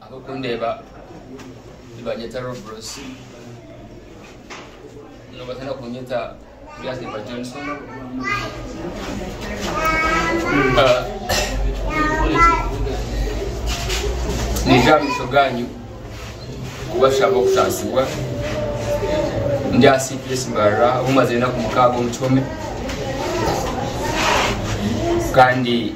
Abakundeeba nibanyeta Robros nibatina kunyeta Turiandeba Johnson. Niija aha maisho gaanyu kubashaba okutaasibwa ndi aha CPS Mbarara ahu mazire enaku mukaaga omu kihome kandi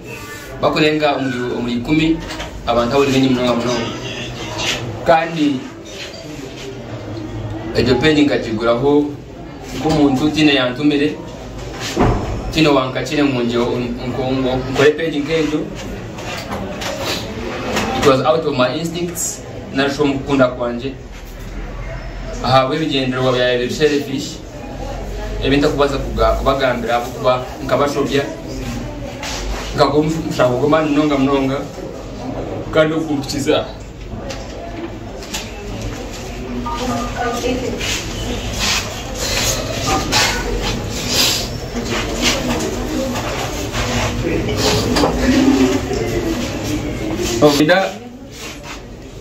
Bakurenga omuri ikumi abantu abo ni baingi munonga munonga. Kandi egyo peegi nkagiguraho nk'omuntu tiine yantumire, tiine wankakire ngu nkore peegi nk'egyo. It was out of my instincts nari shi omu kukunda kwangye. ahabw'ebigyendererwa byawe biri selfish ebi ntarikubaasa kubagambira ahabw'okuba nkabashobya nkagwa omu mushango gw'amaani munonga munonga kandi ogukumpikiza aha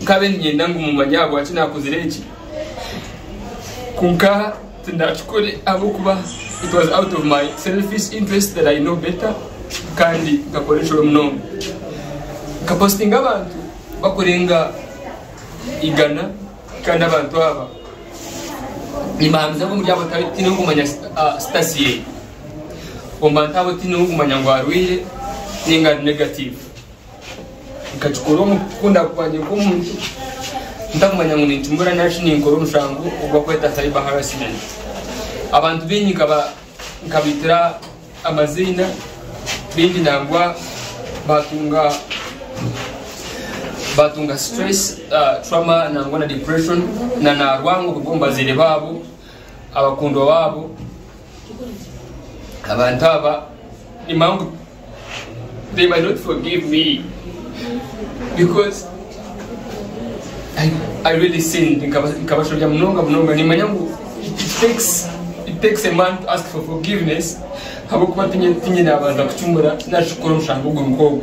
Nkabe ninyenda ngu mumanye ahabwaki nakozire eki. Kwonka tindakikore ahabw'okuba it was out of my selfish interest that I know better kandi nkakora enshuro munonga. Nkapositinga abantu bakurenga igana kandi abantu aba nimbahamiriza ngu omuri abo tihaine orikumanya ah, status ye. Omu bantu abo tihaine orikumanya ngu arwaire ninga ari negative. Nkakikora omu kukunda kwangye nk'omuntu, ntakumanya ngu nincumura nari shi ninkora omushango ogubarikweta cyber harassment. Abantu baingi nkabaitira amaziina, baingi nangwa baatunga baatunga stress, trauma nangwa na depression, na naarwangwa kuruga omu bazaire baabo. abakundwa baabo abantu aba nimangu they might not forgive me because I, I really sinned nkaba- nkabashobya munonga munonga nimanya ngu it it takes it takes a man to ask for forgiveness habwokuba tinye tinye nabanza kucumura nakikora omushango ogwo nk'ogwo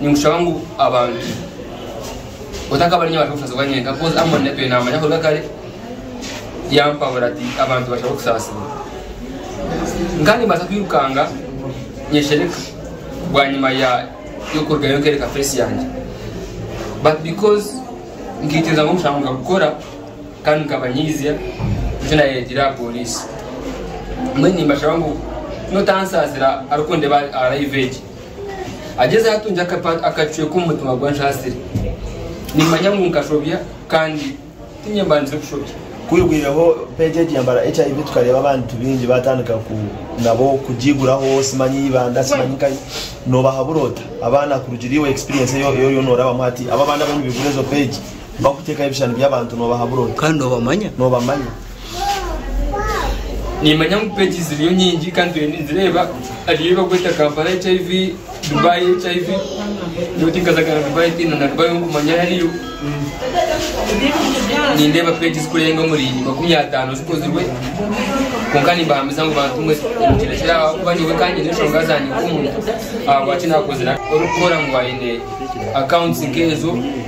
ninkushaba ngu abantu otakaba ninye abasha kusasibwa nyenka kozi amoni natwe namanya kuruga kare yampabura ati abantu bashaba okusasibwa nkandi mbaasa kwirukanga nyeshereka bwanyima ya y'okurugayo nkereka face yange but because nkitiriza ngu nkushanga nkakukora kandi nkabanyiizya nikyo nayereetire aha polisi mbwenu nimbashaba ngu notansasira arikundeba aha live egi Agyezeho atungye akacweka omu mutima gwe anshaasire. Nimmanya ngu nkashobya kandi tinye mbandize kushobya. Kwihwireho peegi egi yambara HIV tukareeba abantu baingi baatandika ku nabo kugiiguraho simanyi eibanda simanyi nkahi. Noobahabura ota abaana kurugiirira iwe experience ei oriyo noorabamu hati? Abo abaana abariyo nibaigura ezo peegi bakuteekaho ebishushani by'abantu noobahabura ota? Kandi noobamanya. Noobamanya. nimanya ngu page ziriyo nyingi kandi turiyo ninzireeba hariyo ei bakweta kampala hiv dubai hiv nyowe tinkazagana dubai tiina na dubai onkumanya hariyo nindeeba page zikurenga omuri makumi ataano zikozirwe kwonka nimbahamiza ngu bantu mwe nimukirekera aha kuba nyowe kandi nyine enshonga zangye nk'omuntu ahabwaki nakozire orikukora ngu aine accounts nk'ezo